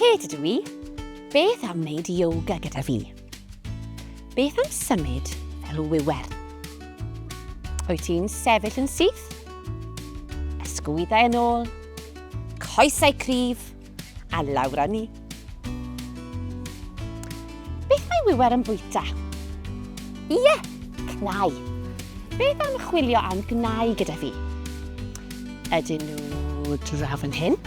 Kate ydw i. Beth am wneud yoga gyda fi? Beth am symud fel wiwer? Wyt ti'n sefyll yn syth? Ysgwyddau yn ôl? Coesau cryf? A lawr â ni. Beth mae Wiwer yn bwyta? Ie, cnau. Beth am chwilio am gnau gyda fi? Ydyn nhw draw fan hyn?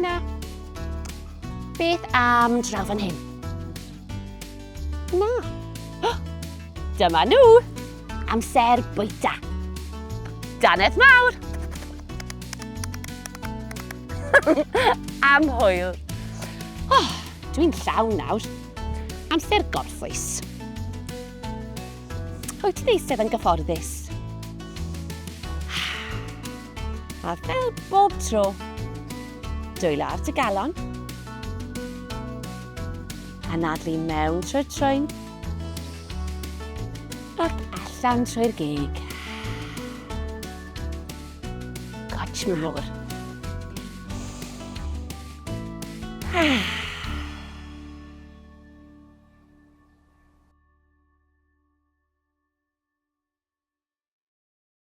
Na. Beth am draw fan hyn? Na. Dyma nhw! Amser bwyta. Danedd mawr! Am hwyl. Oh, dwi'n llawn nawr. Amser gorffwys. Wyt ti'n eistedd yn gyfforddus? A fel bob tro, dwylo ar dy galon. Anadlu mewn trwy'r trwyn. Ac allan trwy'r gig. Goch mawr. Ah.